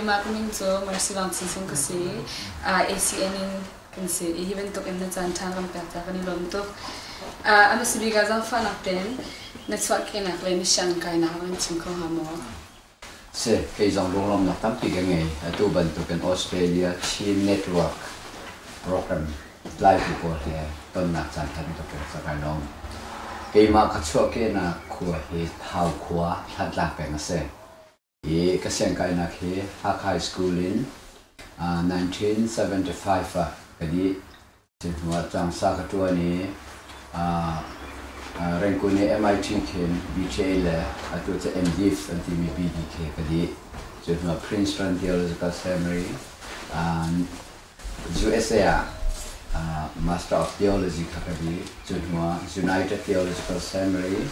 Keimah ka min cu Mercy Wang Sin Sung ka si. Uh, ACN in kan si. I hi bantuk in na caan ṭhan kan pek ta kan i lawm tuk. Uh, anu si bika zangfahnak ten na chuah kenak le na siang kainak an chim kho hnga maw? si. Kei zong lunglawmnak tampi ka ngei. Atu bantukin Australia Chin Network program tlaitu pawl he tonnak caan ṭha bantukin ka ka lawm. Keimah ka chuahkehnak khua hi Thau khua, Thantlang peng a si. Hi ka siangkainak hi Hakha School in 1975 ah ka dih. Cu hnuah tangsa ka ṭuan i Rangoon i MIT khin BTA le atu cu MDiv an timi BDK ka dih. Cu hnuah Prince Ran Deal Elizabeth Samury, usa ah Master of Theology kha ka dih. Cu hnuah United Theological Seminary,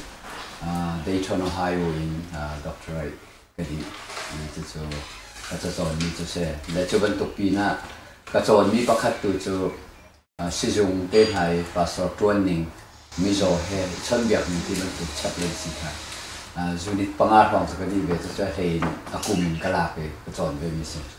Dayton, Ohio in doctorate. ka dih mi cu cu a cacawn mi cu si. Le cu bantuk pin ah ka cawn mi pakhat tu cu sizung te hna i pastor ṭuan ning mizaw he i chawnhbiak mi ti bantuk chaplei si kha zunit panga hrawng cu ka dih ve cucu a hlei in a kum in ka lak i ka cawn ve mi si.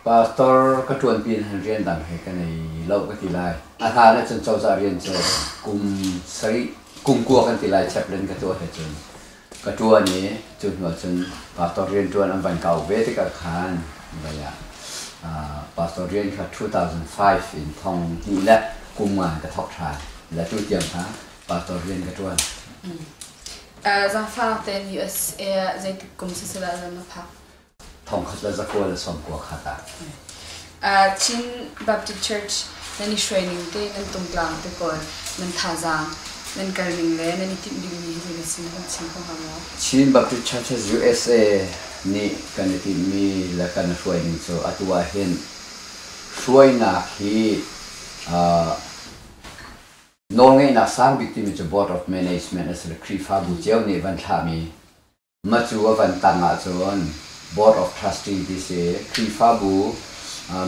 Pastor ka ṭuanpi hlan rian dang he ka nei lo ka ti lai. A hlan ah cun cozah rian cu kum sarih, kum kua kan ti lai chaplet ka tuah he cun ka ṭuan i cu hnu ah cun pastor rian ṭuan an van kau ve tikah khan vai ah uh, pastor rian kha 2005 in thong hnih le kum nga in ka thawk ṭhan le tu tiang kha pastor rian ka ṭuan. Uh, zaangfahnak tein US eh, zeitik kum siseh dah na phak? Thongkhat le zakual a sawm kua kha tah. Chin Baptist Church nan i hruaining te, nan tungtlang te pawl, nan thazaang, nan kalning le nan i timh dingmi hi na sin hun chim kho hnga maw? Chin Baptist Churches usa nih kan i timhmi le kan hruaining cu atu ahhin hruainak hi nawlngeihnak sangbik timi cu Board of Management a si le Khrihfabu cio nih van thlahmi Matu a van tang ahcun Board of Trustee ti si Khrihfabu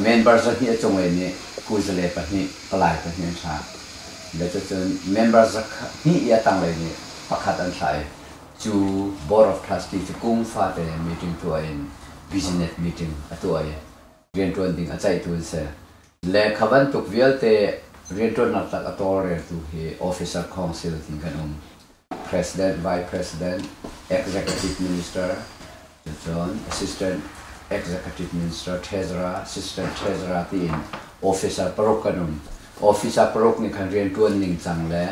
member zahnih a cung i nih kuzale pahnih palai pahnih an thlah. Le cucun member zahnih i a tanglei nih pakhat an thlah i cu Board of Trustee cu kum fate meeting tuah in business meeting a tuah i rianṭuan ding a ceihtu an si. Le kha bantuk vialte rianṭuannak tak a tawlreltu hi Officer Council tin kan um. President, Vice President, Executive Minister, cun Assistant Executive Minister Treasurer, Assistant Treasurer tiin officer paruk an um. Officer paruk nih khan rianṭuan ningcang le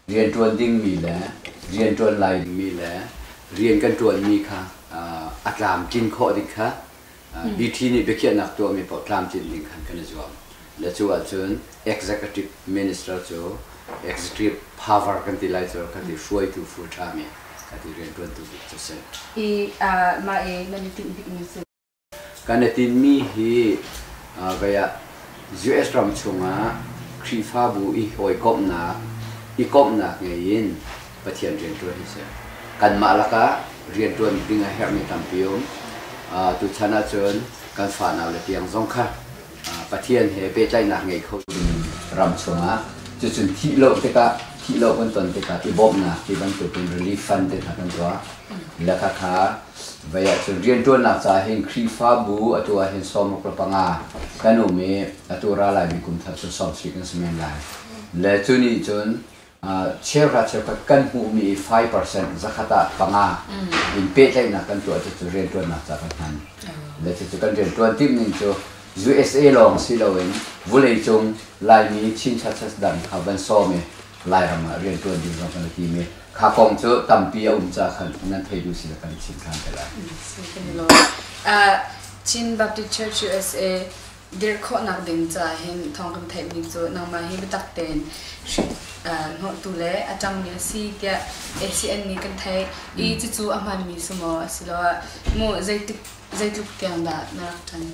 rianṭuan dingmi le rianṭuan lai dingmi le rian kan ṭuanmi kha a tlamtlin khawh ding kha BT nih biakhiahnak tuahmi paoh tlamtlin ding khan kan i zuam. Le cu ahcun Executive Minister cu executive power kan ti lai cu ka ti, hruaitu full time i ka ti, riantuantu bik cu si. I mah i nan i tinh bikmi cu? Kan i tinhmi hi vei ah US ram chungah Khrihfabu i hawikomhnak, i komhnak ngei in Pathian rianṭuan hi si. Kanmah lakah rianṭuan ding a herhmi tampi um. Tuchan ahcun kan fanaule tiang zong kha Pathian he pehtlaihnak ngei kho dingin ram chungah cucun thih lo tikah, thih lo kan ton tikah i bawmhnak ti bantukin relief fund te hna kan tuah. Le khakha vai ahcun rianṭuannak caah hin Khrihfabu atu ahhin sawmruk le panga kan um i atu ralaimi kum thar cu sawmsli kan si men lai. Le cu nih cun Cheukhat cheukhat kan hmuhmi i five percent zakhat ah panga in pehtlaihnak kan tuah cucu rianṭuannak caah kan hman le cucu kan rianṭuan timhning cu usa lawng si loin vuleicung Laimi Chin-Chin dang kha van sawm i Lairam ah rianṭuan ding zong kan i tim i kha kong cu tampi a um caah khan nan thei duh si le kan i chim ṭhan te lai. Kan i lawm. Chin Baptist Church USA dirh khawhnak ding caah hin thawng kan theihmi cu nangmah hi biatak tein hnawhtu le a ṭangmi a si tiah ACN nih kan theih i cucu a hmaanmi su maw asiloah mu zeitik zeitluk tiang dah na rak ṭan?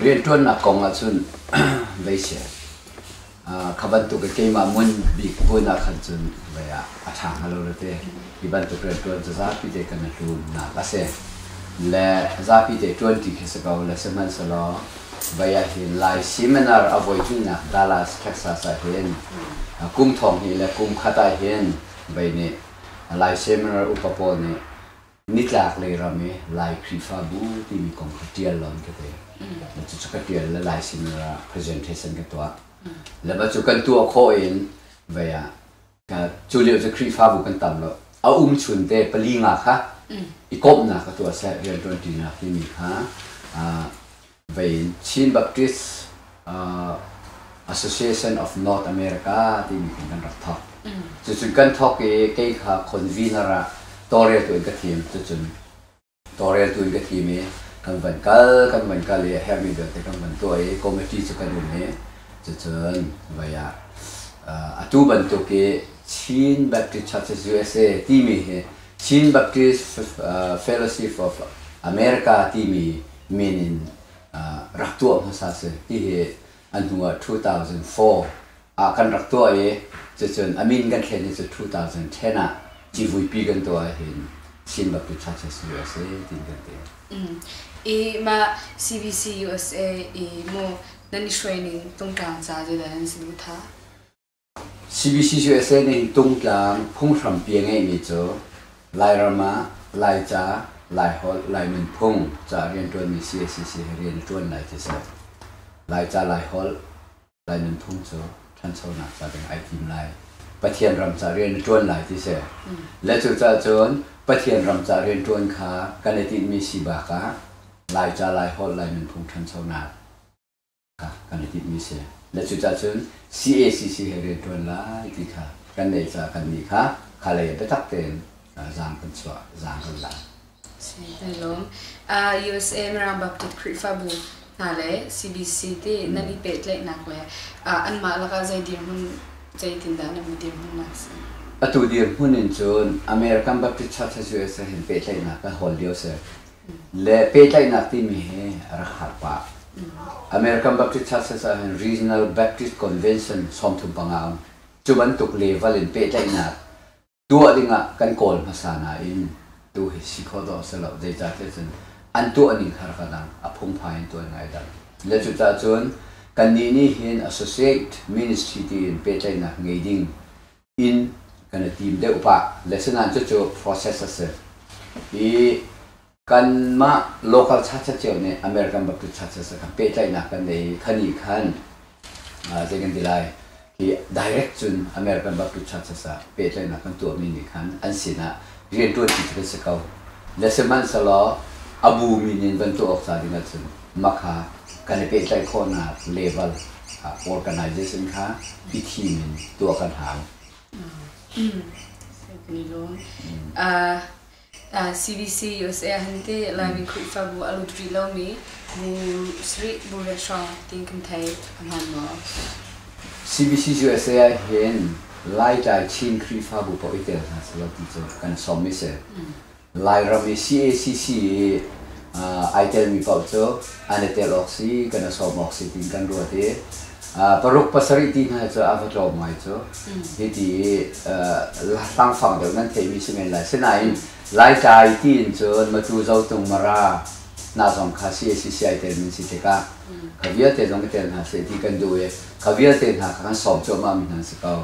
Rianṭuannak kong ahcun vei seh. Kha bantuk i keimah muan bik buainak khan cun vei ah a ṭha hnga lo rete. Hi bantuk rianṭuan cu zapi te kan i hlumnak a si. Le zapi te ṭuanṭi khi si ko le sihmanhsehlaw vei ah hin Lai Seminar a voihnihnak Dallas, Texas ah hin kum thong hnih le kum khat ah hin vei nih Lai Seminar upa pawl nih Nitlaklei ram i Lai Khrihfabu timi kong kha ṭial law an ka ti. Cucu ka ṭial le Lai seminar ah presentation ka tuah. Le ba cu kan tuah khawh in vei ah ka cu lio cu Khrihfabu kan tam lo. A um chun te pali nga kha i komhnak ka tuah seh rianṭuanṭinak timi kha Vei Chin Baptist Association of North America timi hin kan rak thawk. Cucu kan thawk i kei kha convener ah tawlreltu in ka thim. Cucun tawlreltu in ka thim i kan van kal, kan van kal i a herhmi vialte kan van tuah i committee cu kan um i cucun vai ah atu bantuk i Chin Baptist Churches USA timi hi Chin Baptist Fellowship of America timi men in rak tuah hmasa sih tihi a hnu ah 2004 ah kan rak tuah i cucun a min kan thlen hi cu 2010 ah civuipi kan tuah ahhin Singapore Churches USA tiin kan ti. Mm. I mah CBC USA i mu nan i hruai ning tungtlang ca zedah nan si bu tha? CBCUSA nih tungtlang phunghrampi a ngeihmi cu Lairam ah Laica, Laiholh, Lai nunphung ca a rian ṭuanmi cacc he rian a ṭuan lai ti a si. Laica, Laiholh, Lai nunphung cu ṭhanchonak ca ding ai tim lai. Pathian ram ca rian a ṭuan lai ti a si. Le cucaah cun Pathian ram ca rian ṭuan kha kan i tinhmi si bakah Laica, Laiholh, Lai nunphung ṭhanchonak, kha kan i timhmi si. Na cucah cun cacc he rianṭuan lai ti kha kan leh caah kannih kha khalei ah biatak tein zaang kan chuah, zaang kan la. Kan lawm. USM Rang Baptist Khrihfabu hna le CBC ti nan i pehtlaihnak le anmah lakah zei dirhmun zeitindah nan i dirhmunnak si? Atu dirhmun in cun American Baptist Churches usa hin pehtlaihnak kan hawl lio si. le pehtlaihnak timi hi rak har pah. American Baptist Churches ah hin Regional Baptist Convention sawmthum panga a um. Cu bantuk level in pehtlaihnak tuah dingah kan kawl hmasa nain tu hi si khawh dawh a si lo. Zeicah tiah cun an tuahning kha rak ka dang, a phungphai in tuah ngai dang. Le cucah cun kannih nih hin associate ministry tiin pehtlaihnak ngei ding in kan i tim deuh pah le sinain cucu process a si i kanmah local churches cio nih American Baptist churches a kan pehtlaihnak kan nei i khani khan zei kan ti lai hi direct cun American Baptist churches ah pehtlaihnak kan tuahmi nih khan an sinah rianṭuanṭi cu kan si ko le sihmanhsehlaw a bumi nih van tuah awk ca ding ahcun mah kha kan i pehtlaih khawhnak level ah organization kha i thim in tuah kan hau. CDC USA ahante Laimi Khrihfabu a lut rih lomi Bu Sri Bu Restaurant tin kan thei hman maw? CBC USA ahhin Laitlai Chin Khrihfabu paoh i tel hna selaw ti cu kan sawm i si. Lairam i CACC i ai telmi paoh cu an i tel awk si, kan i sawm awk si tiin kan ruat i paruk pasarih ti hna cu a va tlawm ngai cu. Hiti i hlangfang deuh nan theihmi si men lai. Sinain Laitlai tiin cun Matu, Zotung, Mara hna zong kha CACC ai telmi si tikah ka vialte zong i tel hna seh ti kan duh i ka vialte hna kha kan sawm cuahmahmi hna an si ko.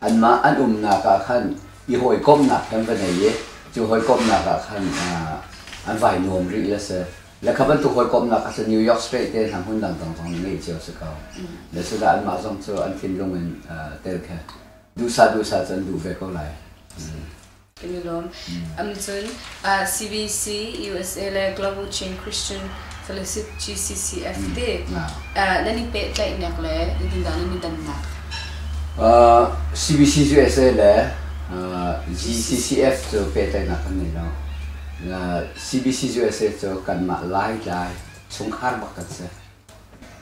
Anmah an umnak ah khan i hawikomhnak he an va nei i cu hawikomhnak ah khan an vai nuam rih i a si. Le kha bantuk hawikomhnak kha cu New York State te hna hmun dangdang zong nih ngeih cio a si ko. Le cudah anmah zong cu an thinlung in tel khe duhsah duhsah cu an duh ve ko lai. kan i lawm. Um cun uh, CBC USA le Global Chin Christian Fellowship GCCF ti uh, nan i pehtlaihnak le indindah nan i dannak? Uh, CBC USA le uh, GCCF cu pehtlaihnak kan ngei lo. Uh, CBC USA cu kanmah laitlai chungkhar bak kan si.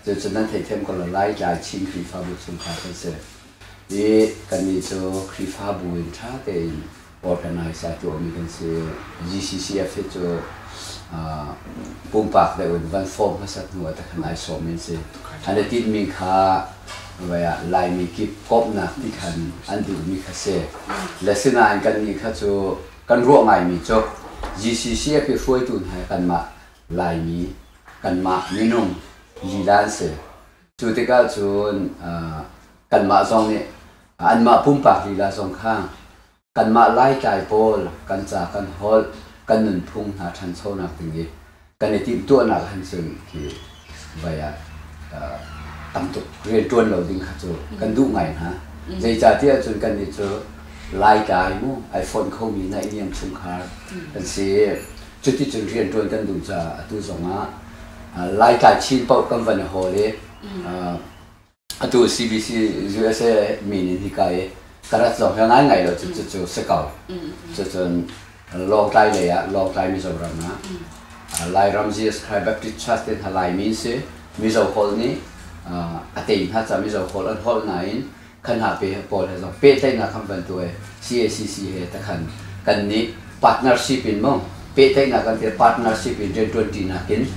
Cucu nan theithiam ko lo laitlai Chin Khrihfabu chungkhar kan si. i kannih cu Khrihfabu in ṭha tein organize ah tuahmi kan si. GCCF hi cu pumpak deuh in van form hmasat hnu ah takhan ai sawmmi an si. An i tinhmi kha voi ah Laimi kip komhnak ti khan an duhmi kha si. Le sinain kannih kha cu kan ruah ngaimi cu GCCF hi hruaitu hna hi kanmah Laimi, kanmah minung lila an si. Cu tikah cun kanmah zong nih anmah pumpak lila zong kha kanmah Laitlai pawl kan ca kan holh kan nunphung hna ṭhanchonak ding i kan i timhtuahnak han cun hi vai ah tam tuk rian ṭuan lo ding kha cu kan duh ngai hna. Zeicahtiah cun kannih cu Laitlai mu ai fonh khomi naihniam chungkhar kan si. Cuticun rianṭuan kan duh caah atu zongah Laitlai Chin paoh kan van i hawl i atu CBC USA min in hika i ka rat zong hi ngaingai lo cu cucu si ko. Cucun Lawngtlai lei ah Lawngtlai Mizoram ah Lairam Jesus Christ Baptist Church te hna Laimi an si. Mizo holh nih a tei hna caah Mizo holh an holh nain kan hna pe pawl he zong pehtlaihnak khamh bantuk e CACC he takhan kan nih partnership in mo pehtlaihnak kan te partnership in rian tuanti nak in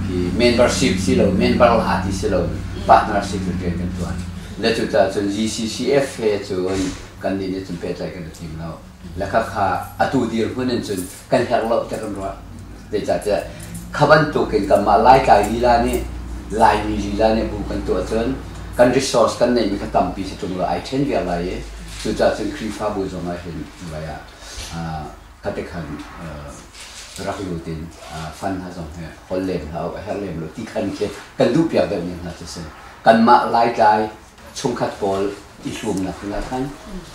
hi membership si lo member la ti si lo partnership in rian kan tuan le cu ta cun GCCF he cun kan nih nih cun pehtlaih kan i tim lo lekha kha atu dir hun in cun kan herh lo tiah kan ruah. Zeicahtiah kha bantuk in kanmah Laitlai lila nih Laimi lila nih bu kan tuah cun kan resource kan neihmi kha tampi si ṭung law ai ṭhen viar lai i cucaah cun Khrihfabu zong ah hin vai ah khatekhan rak lut in fan hna zong hi hol lem hlah u, a herh lem lo ti khan khi kan duhpiak deuhmi hna cu si. Kanmah Laitlai chungkhat pawl i hlumnak ding ah khan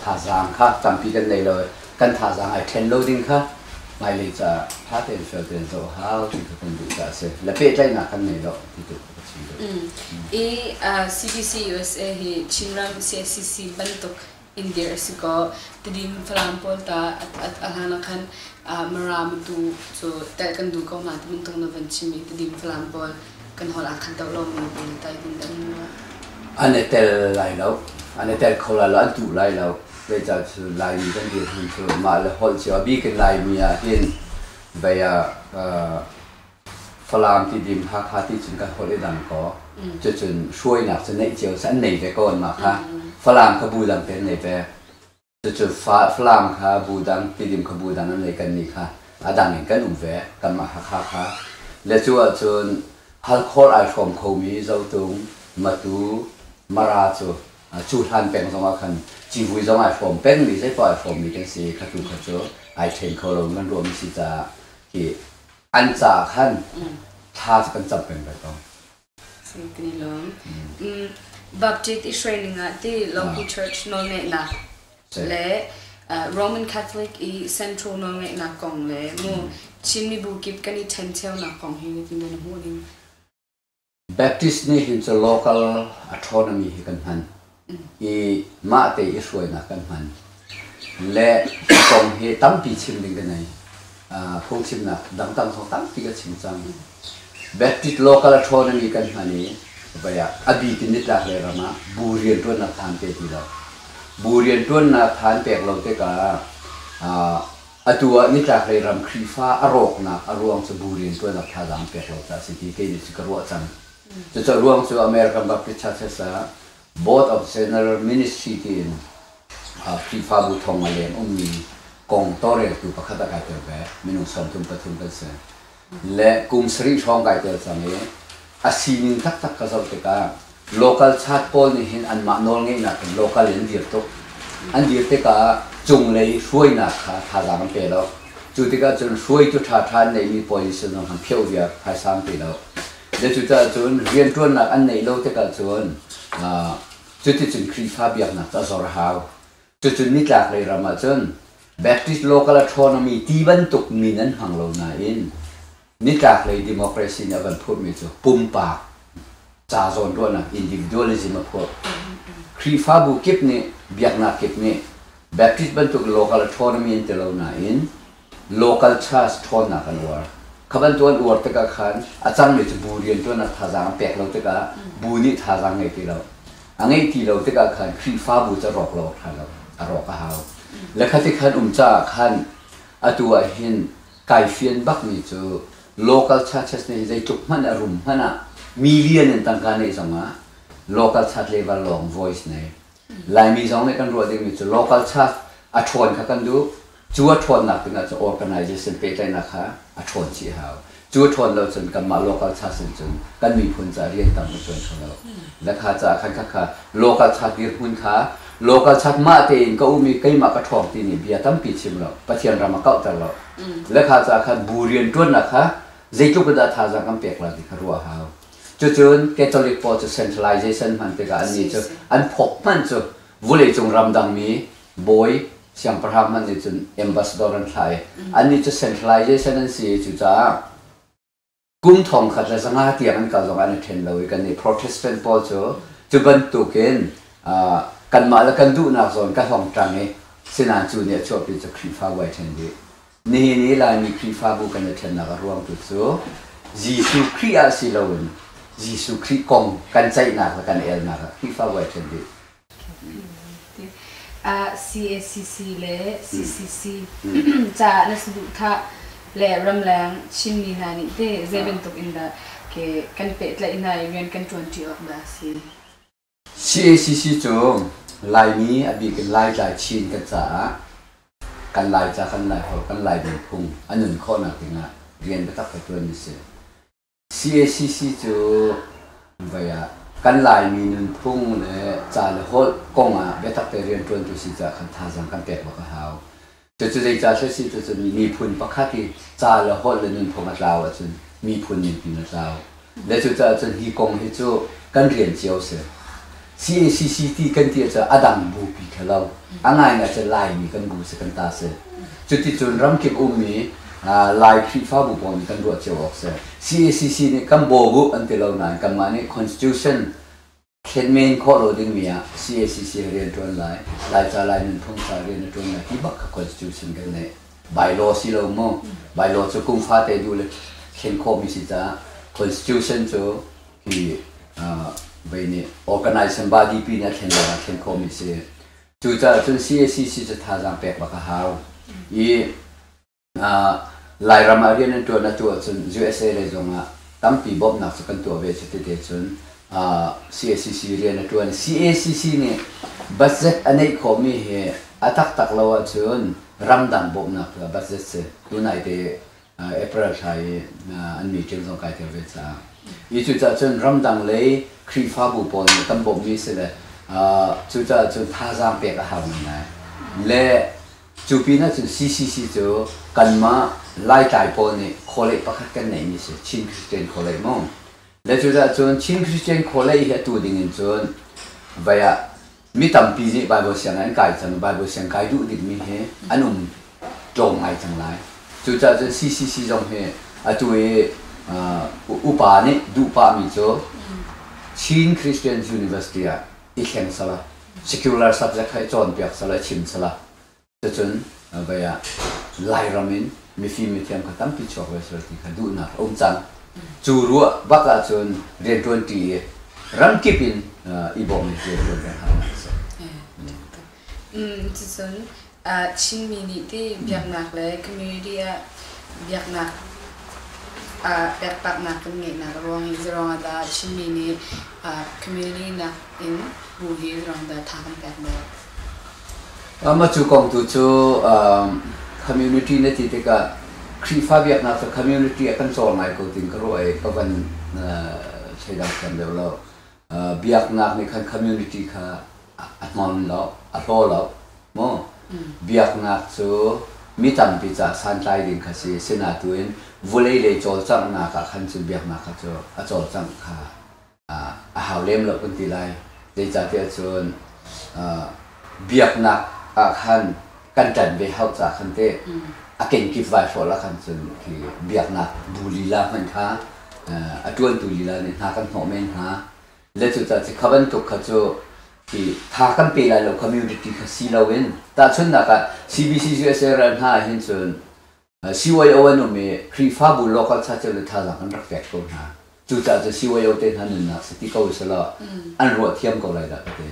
thazaang kha tampi kan nei lo i kan thazaang ai ṭhen lo ding kha hmailei caah ṭha tein fial tein zoh a hau ti kha kan duh caah a si. Le pehtlaihnak kan ngei lo ti tu ka chim duh. Mm. I uh, CDC USA hi Chinram CSCC bantuk in dirh a si ko. Tidin Falam pawl ta a hlan ah khan Maram tu cu telh kan duh ko ma ti bantuk na van chim i Tidin Falam pawl kan hol ah khan to lo men te tai hmun da mu. An i tel lai lo. An i tel kho lai lo. An duh lai lo. Zeicah cu Laimi kan dirhmun cu mah le holh cio a bikin Laimi ah hin bei ah Falam ti dim Hakha ti cun kan holh i dang kaw cucun hruainak cu neih cio an nei ve ko an mah kha Falam kha bu dang te an ngei ve cucu Falam kha bu dang tidim kha bu dang an lei kan nih kha a dang in kan um ve kanmah Hakha kha le cu ahcun halkhor ai hrawm khomi Zotung Matu Mara cu cu hlan peng zong ah khan civui zong ai hrawm pengmi zeipoah ai hrawmmi kan si kha tu kha cu ai ṭhen kho lo nan ruahmi si caah hi an caah khan thla cu kan cam peng lai ko. Kan i lawm. Mm. Baptist Israel ningah ti local church nawlngeihnak le uh, Roman Catholic i central nawlngeihnak kong le mu Chin mibu kip kan i ṭhen ṭheunak kong hi nitin na hmuh ning. Baptist nih hin cu local astronomy hi kan hman i mah te i hruainak kan hman. Le kong hi tampi chim ding ka nei. Uh, phungchimnak dangdang kong tampi ka chim cang. Baptist local astronomy kan hman i vai ah a bik in nitlak le ram ah bu rianṭuannak than te ti lo. Bu rianṭuannak than pek lo tikah uh, Atu ah nitlaklei ram Khrihfa a rawknak a ruang cu bu rianṭuannak thazaang peklo caah a si ti kei nih cu ka ruah cang. Cucu a ruang cu American Baptist Churches ah Board of General Ministry tiin Khrihfabu thong a leng ummi kong tawlreltu pakhat a kaiter ve. Minung sawmthum pathum kan si. le kum sarih hrawng kai tel cang i a sining taktak ka zoh tikah local chat pawl nih hin anmah nawlngeihnak in local in dir tuk. An dir tikah cunglei hruainak kha thazaang an pe lo. Cu tikah cun hruai cu ṭhaṭha an neihmi puai nih cun an pheuh viar phaisang ti lo. Cucaah cun rianṭuannak an neih lo tikah cun cuticun Khrihfa biaknak cu a zor a hau. Cucun nitlaklei ram ah cun Baptist local astronomy ti bantuk mi nan hmang lo nain nitlaklei democracy nih a van phurhmi cu pumpak ca zawnruahnak, individualism, a phurh. Khrihfabu kip nih biaknak kip nih Baptist bantuk local astronomy an ti lo nain local church ṭhawnnak an uar. Kha bantuk an uar tikah khan a cangmi cu bu rianṭuannak thazaang a pek lo tikah bu nih thazaang ngei ti lo, a ngeih ti lo tikah khan Khrihfabu cu a rawk lo awk ṭha lo, a rawk a hau. Le kha tikhan um caah khan atu ah hin kai fian bakmi cu local churches nih hin zeitluk hmanh a rum hmanh ah mi lian in tangka neih zongah local church leival lawng voice nei Laimi zong nih kan ruah dingmi cu local church a ṭhawn kha kan duh. Cu a ṭhawnnak dingah cu organization pehtlaihnak kha a ṭhawn chih a hau. Cu a ṭhawn lo cun kanmah local church in cun kan miphun caah rian tam a ṭuan kho lo. Le kha caah khan khakha local church dirhmun kha local church mahte in ka um i keimah ka ṭhawng timi bia tampi chim lo, Pathian ram a kauhter lo. Le kha caah khan bu rianṭuannak kha zeitluk in dah thazaang kan pek lai ti kha ruah a hau. Cucun Catholic pawl cu centralization hman tikah annih cu an phawk hmanh cu vuleicung ramdangmi bawi siangpahrang hmanh nih cun ambassador an thlah i annih cu centralization an si i cucaah kum thong khat le zanga tiang an kal zong an i ṭhen lo i kannih Protestant pawl cu cu bantukin kanmah le kan duhnak zawn ka hlawngṭang i sinain cu nih a chuahpi cu Khrihfabu ai ṭhen dih. Nihin i Laimi Khrihfabu kan i ṭhennak a ruangtu cu Jesuh Khrih ah si loin Jesuh Khrih kong kan ceihnak le kan elnak ah Khrihfabu ai ṭhen rih. CACC le CCC caah na saduhthah le ramleng Chinmi hna nih teh zei bantuk in dah ke kan pehtlaih hna i rian kan ṭuanṭi awk dah a si? CACC cu Laimi a bik in Laitlai Chin kan caah kan Laica khan Laiholh kan Laidan phung a nun khawhnak dingah rian biatak a ṭuan a si. CACC cu vei ah kan Laimi nunphung le ca le holh kongah biatak te rianṭuantu si caah khan thazaang kan pek bak a hau. Cucu zeicah a si a si ticun miphun pakhat i ca le holh le nunphung a tlau ahcun miphun nunphung a tlau. Le cucaah cun hi kong hi cu kan rian cio a si. CACC ti kan ti ahcun a dang bupi kha lo, a ngaingai ahcun Laimi kan bu si kan ta si. Cuticun ramkip ummi Lai Khrihfabu pawng nih kan ruah cio awk si. CACC nih kan bawm uh an ti lo nain kanmah nih Constitution, thlen men khawh lo dingmi ah CACC rian ṭuan lai, Laica Lai nunphung ca rian a ṭuan lai ti bak kha constitution kan neih. Bylaw si lo mu, bylaw cu kum fate duh le thlen khawhmi si caah constitution cu hi vei nih organization body pi nih a thlen lawngah thlen khawhmi a si. Cucaah cun CACC cu thazaang pek bak a hau i Lairam ah rian an ṭuan a tu ahcun usa lei zongah tampi bawmhnak cu kan tuah ve. Cuti te cun CACC rian a ṭuan. CACC nih budget a neih khawhmi hi a taktak lo ahcun ramdang bawmhnak cu a budget si. Tunaite April thla i an meeting zong kai tel ve caah. Hi cucaah cun ramdang lei Khrihfabu pawl nih kan bawmhmi a si le cucaah cun thazaang pek a har ngai lai. Le Cu pinah cun CCC cu kanmah Laitlai pawl nih khualei pakhat kan neihmi si, Chin Christian Khualei mu. Le cucaah cun Chin Christian Khualei hi atu dingin cun vai ah mi tampi nih Baibal sianginn an kai cang i Baibal sianginn kai duh dingmi hi an um tlawm ngai cang lai. Cucaah cun CCC zong hi atu i uh, upa nih duh pahmi cu Chin Christians University ah i thleng sala, secular subject kha i cawnpiak sala, i chim sala. Cucun vai ah Lairam in mifim mithiam kha tampi chuak ve sal ti kha duhnak a um cang. Cu ruah bak ahcun rianṭuanṭi i ramkip in i bawm i rianṭuan peng hau a si. Cucun Chinmi nih ti biaknak le community ah biaknak pekpaknak kan ngeihnak ruang zirong ah dah Chinmi nih community nak in bu hi zirong dah tha kan pek dah? Mah cu kong tu cu community na ti tikah Khrihfa biaknak cu community ah kan cawl ngai ko ting ka ruah i ka van thei dang thiam deuh lo. biaknak nih khan community kha a hnon lo a hlaw lo maw biaknak cu mi tampi ca santlai ding kha si sina tu in vulei lei cawlcanghnak ah khan cun biaknak kha cu a cawlcangh kha a hau lem lo kan ti lai zeicahtiah cun biaknak ah khan kan ṭan ve hau ca khan teh a kenkip vaihrawl ah khan cun hi biaknak bu lila hmanh kha a ṭuantu lila nih hna kan hnawh men hna le cucaah khi kha bantuk kha cu hi tha kan pe lai lo community kha si loin tahchunhnak ah CBCUSA ral hna ah hin cun CYO an um i Khrihfabu local church le thazaang an rak pek ko hna. Cucaah cu CYO te hna nunnak si ti ko usihlaw an ruah thiam ko lai dah ka ti.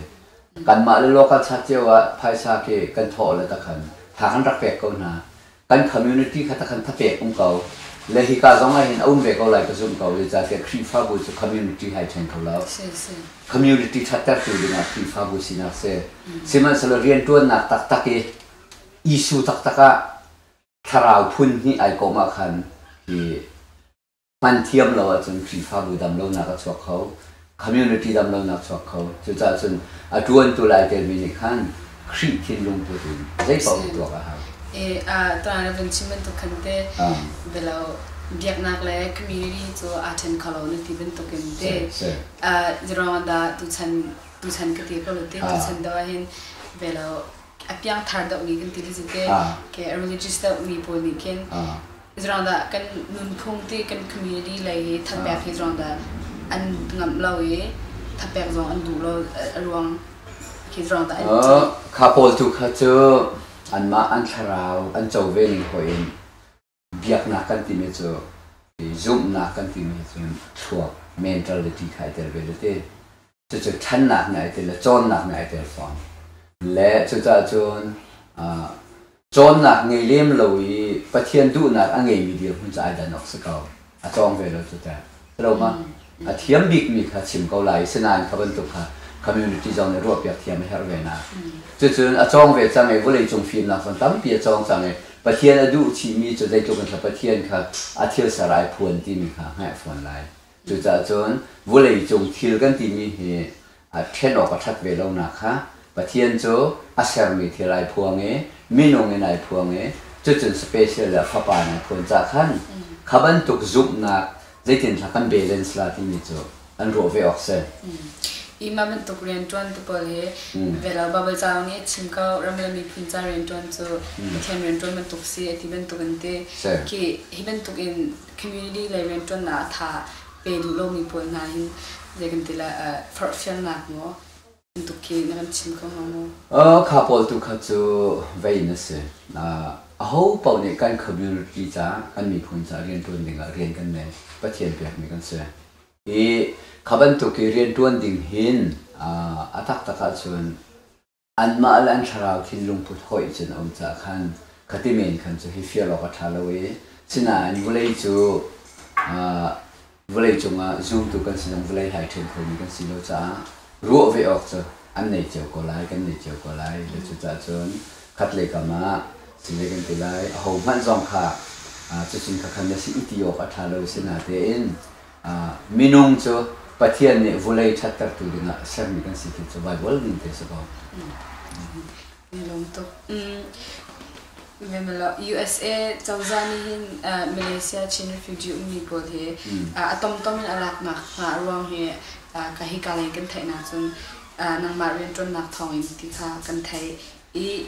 Kanmah le local church cio ah phaisa khi kan thawh le takhan tha kan rak pek ko hna. Kan community kha takhan thapek um ko. Le hika zong ah hin a um ve ko lai ka zumh ko. Zeicahtiah Khrihfabu cu community hai ṭhen kho lo. Community ṭhattertu dingah Khrihfabu sinak si. Sihmanhsehlaw rianṭuannak taktak i Jesuh taktak ah thlarau phun hnih ai kawm ah khan hi hman thiam lo ahcun Khrihfabu damlonak a chuak kho community damlonak chuak kho cucaah cun a ṭuantu lai telmi nih khan Khrih thinlung put in zeipaoh hi tuak a hau. I ṭuan a vun chim bantuk khan te bia lo biaknak le community cu aa ṭhen kho lo na ti bantuk in te zeruang dah tuchan tuchan ka ti ko lo ti tuchan dawh hin bia lo a piangthar deuh mi kan ti ti zate ke a religious deuh mi pawl nih khin zrang da kan nunphung ti kan community lei hi thapek hi zrang da an ngamh lo i thapek zong an duh lo a ruang khi zrang da an kha pawl tu kha cu anmah an thlarau an co ve ning hoin biaknak kan timi cu zumhnak kan timi cun thluak mentality kha ai tel ve le ti cucu ṭhannak nih ai tel le cawnnak nih ai tel fawn le cucah cun cawnnak ngei lem lo i Pathian duhnak a ngeimi dirhmun cu ai dan awk si ko a cawng ve lo cu teh. Lomah a thiam bikmi kha chim ko lai i sinain kha bantuk kha community zong nih ruahpiak thiam a herh ve nain cucun a cawng ve cang i vawleicung fimnak zong tampi a cawng cang i Pathian a duh chihmi cu zeitluk in thlapa Pathian kha a thil ser ai phuan timi kha hngalh fawn lai. Cucaah cun vawleicung thil kan timi hi ṭhen awk a ṭhat ve lonak kha Pathian cu a sermi thil ai phuang i minung in ai phuang i cucun special le fapa in ai phuan ca khan kha bantuk zumhnak zeitinhlah kan balance la timi cu an ruah ve awk si. Hi mah bantuk rianṭuantu pawl hi Velo Baibal caang nih chim ko, ram le miphun ca rianṭuan cu Pathian rianṭuan bantuk si a ti bantuk an ti. Hi bantuk in community lei rianṭuannak a ṭha pe duh lomi pawl hna hin zei kan ti lai, forhfialnak maw bantuk khi na kan chim ko hnga maw? Kha pawl tu kha cu vei in a si. Aho paoh nih kan community ca, kan miphun ca rianṭuan dingah rian kan ngei. Pathian pekmi kan si. Hi kha bantuk i rianṭuan ding hin a taktak ahcun Anmah le an thlarau thinlungput hoih cun a um caah khan ka ti men khan cu hi fial awk a ṭha lo i sinain vawlei cu vawlei cungah zumtu kan si zong vawlei hai ṭhen khomi kan si lo caah ruah ve awk cu an nei cio ko lai, kan nei cio ko lai. Le cucaah cun khatlei kam ah cizei kan ti lai, ahohmanh zong kha cutin khakhan na si i ti awk a ṭha lo, sinatein Minung cu Pathian nih vulei ṭhattertu dingah a sermi kan si ti cu Baibal min te si ko. Lawm tuk. USA cozah nih hin Malaysia Chin refugee ummi pawl hi a tomtom in a laknak hnga ruang hi ka hika leng kan theih nakcun nangmah rianṭuannak thawngin ti kha kan theih i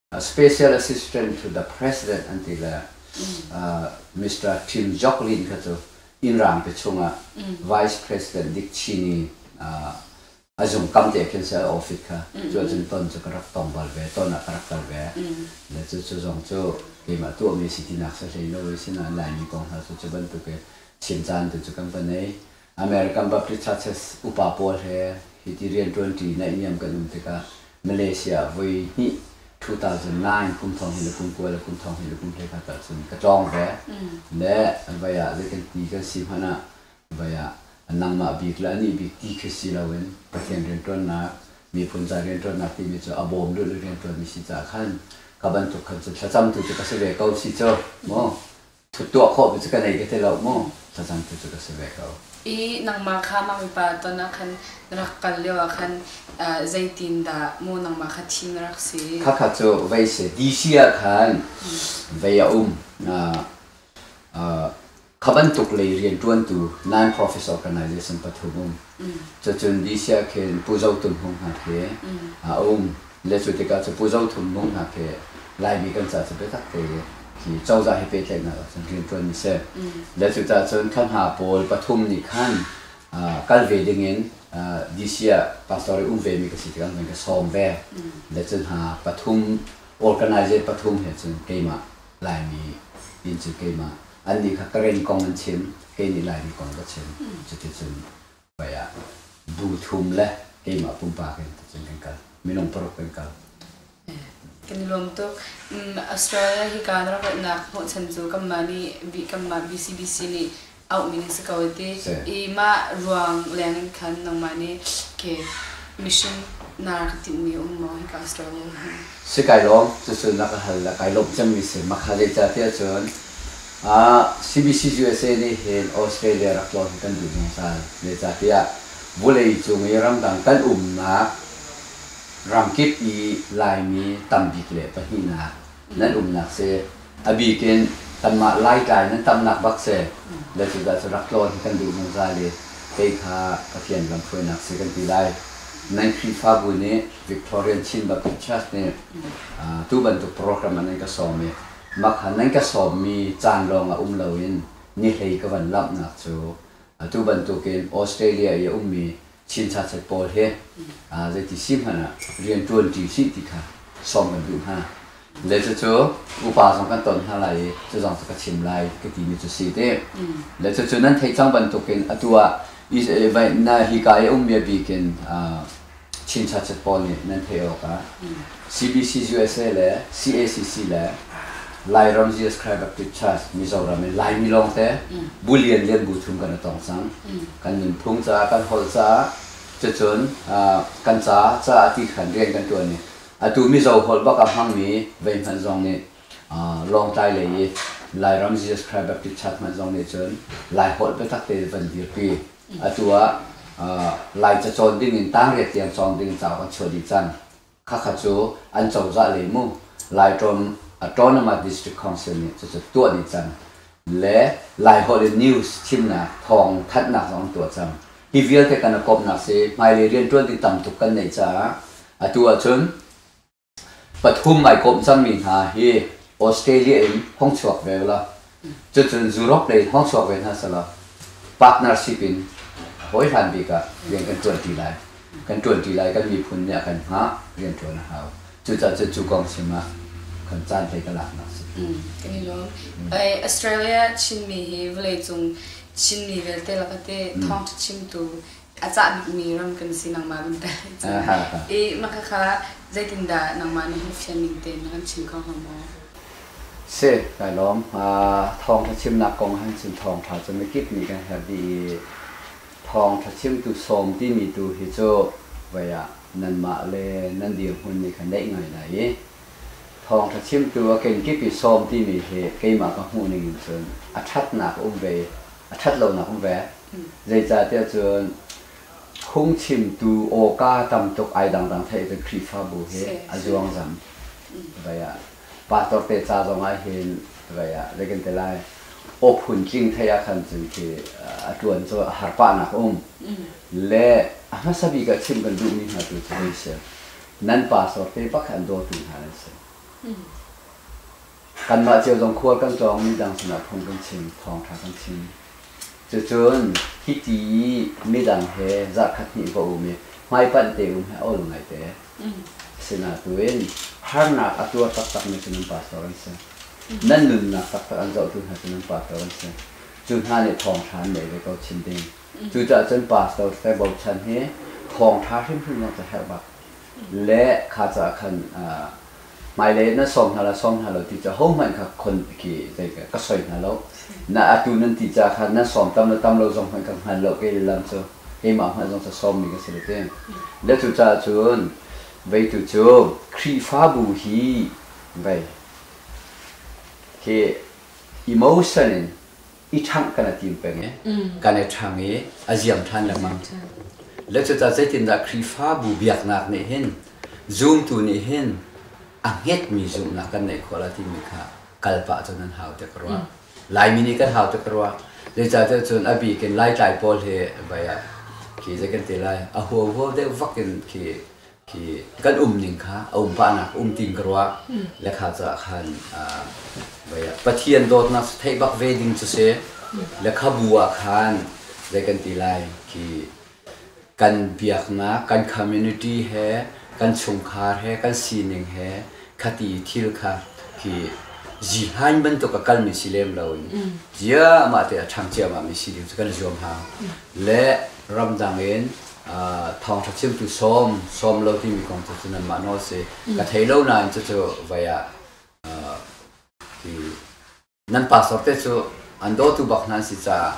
Special Assistant to the President an ti le Mister Tim Joklin kha cu innrang te chungah Vice President Dick Cheney a zung kam te khin ser office kha cu ahcun ton cu ka rak tong bal ve ton ah ka rak kal ve le cu cu zong cu keimah tuahmi a si tinak sahlei no i sinain Laimi kong hna cu cu bantuk in chim caan tu cu kan va nei American Baptist Churches upa pawl he hiti rianṭuanṭi naihniam kan um tikah Malaysia ah voi hnih ṭhu-thousand-nine kum thong hi le kum kua le kum thong hi le kum hlei khat tal cun ka tlawng ve. Le vai ah zei kan ti kan si hmanh ah vai ah nangmah bik le anih bik ti khi si loin Pathian rianṭuannak, miphun ca rianṭuannak timi cu a bawm lulh i rianṭuanmi si caah khan ka bantuk khan cu thlacamtu cu ka si ve ko si cu, maw tuah khawh tu cu ka nei ka ti lo mu thlacam tu cu ka si ve ko i nangmah kha mah mipa ton ah khan na rak kal lio ah khan zeitin dah mu nangmah kha thim na rak si khakha cu vei si DC ah khan vei a um kha bantuk lei rian tuan tu nine profits organization pathum um cucun DC ah khin Pu Zo Tum Hung hna khi a um Le cu tikah cu Pu Zo Thum Mung hna khi Laimi kan ca cu biatak te i hi cozah he pehtlaihnak ahcun rianṭuan a si. Le cucah cun thla hna pawl pathum nih khan kal ve dingin DC ah pastor i um vemi ka si tikah an van ka sawm ve. Le cu hna pathum, organizer pathum he cun keimah Laimi inn cu keimah, annih kha Karen kong an chim, kei nih Laimi kong ka chim. Cuticun Vai ah duhthum le keimah pumpak in cun kan kal. Minung paruk kan kal. Kan i lawm tuk. Australia hi kaa na rak ratnak hmuh chan cu kanmah nih kanmah BCBC nih auhmi na si ko ti i mah ruang leng in khan nangmah nih ke mission na rak timhmi a um maw hika Australia hi? Si kai lawm. Cucu na ka hal le kai lawmh cemmi si. Mah kha zeicahtiah cun CBCUSA nih hin Australia rak tlawn hi kan duh zungzal. Zeicahtiah vawleicung i ramdang kan umnak ramkip i Laimi tambik le pahnihnak nan umnak si. A bik in kanmah Laitlai nan tamnak bak si. Le cucaah cu rak tlawn hi kan duh zungzal i kei kha Pathian lamhruainak si kan ti lai. Nan Khrihfabu nih Victorian Chin Baptist Church nih tu bantuk program ah nan ka sawm i Makhan nan ka sawmmi caan lawng a um loin nihlei ka van lamhnak cu atu bantukin Australia i a ummi Chin sachet pawl hi zeiti si hmanh ah rianṭuanṭi hrih ti kha sawm kan duh hna. Cucu upa zong kan ton hna lai i cu zong cu ka chim lai ka timi cu si te. Le cucu nan theih cang bantukin atu ah hi ka i ummi a bik in Chin Churchit pawl nih nan theih awkah CBCUSA le CACC le Lairam Jesus Christ Baptist Church Mizoram in Laimi lawngte Bu lianlian bu thum kan i tong cang. Kan nunphung caah, kan holh caah, cucun kan ca caah ti khan rian kan ṭuan i atu Mizo holh bak a hmangmi vei hmanh zong nih Lawngtlai lei i Lairam Jesus Christ Baptist Church hmanh zong nih cun Laiholh biatak te van dirpi Atu ah Lai cacawn ding in tangriat tiang cawng ding cauk an chuah dih cang. Khakha cu an cozah lei mu Laitrawm Autonomous District Council nih cucu tuah dih cang. Le Laiholh in news thimnak thawng thanhnak zong an tuah cang. Hi vialte kan i kawmhnak si, hmailei riantuan ding tam tuk kan neih caah atu ahcun Pathum ai kawm cangmi hna hi Australia in hong chuak ve ula, cucun Europe lei in hong chuak ve hna selaw partnership in hawi hlan bik ah rian kan ṭuanṭi lai. Kan ṭuanṭi lai, kan miphun nih a kan hngah, rianṭuan a hau. Cucaah cun cu kong chim ah kan caan hlei ka laknak a si. Kan i lawm. Australia Chinmi hi vawleicung Chinmi vialte lakah teh thawngṭha chimtu a cah bikmi ram kan si nangmah bantuk i maka kha zeitindah nangmah nih fian ning tein na kan chim kho hnga maw? Si, kai lawm. Thawngṭha chimnak kong han chim thawngṭha cu mikip nih kan herh dih i thawngṭha chimtu sawm timi tu hi cu voi ah nanmah le nan dirhmun nih khan daih ngai lai i thawngṭha chimtu a kenkip i sawm timi hi keimah ka hmuh ning in cun a ṭhatnak a um ve a ṭhat lonak um ve. Zeicahtiah cun phungchimtu awka tam tuk ai dangdang theih cu Khrihfabu hi a zuangzam vei ah pastor te ca zong ah hin vei ah zei kan ti lai aw phun tling thei ah khan cun khi a ṭuan cu a har pahnak um le a hmasa bik ah chim kan duhmi hna tu cu an si nan pastor te bak an dawtu hna an si Kanmah cio zong khual kan tlawng midang sinah phung kan chim, thawngṭha kan chim. Cucun hiti i midang he zarhkhat hnih va um i hmaipanh te um hi a ol ngaite. Asinain harnak a tuar taktakmi cu nan pastor an si. Nan nunnak taktak an zohtu hna cu nan pastor an si. Cu hna nih thawngṭha an nei ve ko chin ding. Cucaah cun pastor tete bochan hi thawngṭha hrimhrim zong cu a herh bak le kha caah khan hmailei na sawm hna la sawm hna lo ti cu hohmanh kha khon khi zei ka soi hna lo. Na atu nan ti ca kha nan sawm tam le tam lo zong hmanh ka hngal lo kei le lam cu keimah hmanh zong cu sawmmi ka si le ti. Le cucaah cun veitu cu Khrihfabu hi vei hi emotion in i ṭhangh kan i tim peng i kan i ṭhang i a ziam ṭhan lengmang. Lecuca zeitindah Khrihfabu biaknak nih hin zumtu nih hin a hnekmi zumhnak kan ngeih khawh lai timi kha kal pah cu nan haute ka ruah. Laimi nih kan haute ka ruah. Zeicahtiah cun a bik in Laitlai pawl hi, vai ah khi zei kan ti lai, a huahuau deuh vak in khi khi kan um ning kha a um pahnak um tiin ka ruah le kha caah khan Pathian dawtnak theih bak ve ding cu si le khabu ah khan zei kan ti lai khi kan biaknak kan community he kan chungkhar he kan sining he khati thil kha khi ji hain bantuk a kalmi si lem lo in zia mah te a ṭhang ciama mi si ding cu kan zuam ha le ramdang in thawngṭha chimtu sawm, sawm lo timi kong cu cun anmah nawl a si. Ka thei lo nain cucu vai ah nan pastor te cu an dawtu bak hna an si caah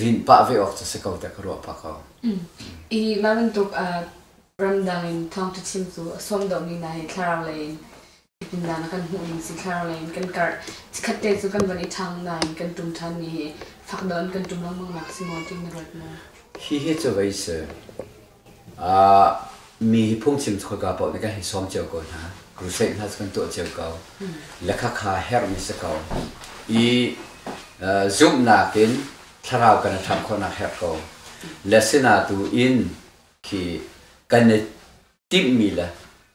rin pah ve awk cu si ko teh ka ruah pah ko. Hi mah bantuk ramdang in thawngṭha chimtu a sawm deuhmi hna hi thlarau lei in Hitindah na kan hmuh ding si thlar lei in kan karh. Chikkhat te cu kan van i ṭhang nain kan ṭum ṭhan mi hi fak deuh in kan ṭum lengmang nak si maw tiin na ruat maw? Hihi cu vei si. Uh, mi hi phungchim cu khawika paoh nih kan hei sawm cio ko hna. Crusade hna cu kan tuah cio ko. Lekhakha herhmi si ko. I uh, zumhnak in thlarau kan i hram khawhnak herh ko. Le sina tu in khi kan i timhmi le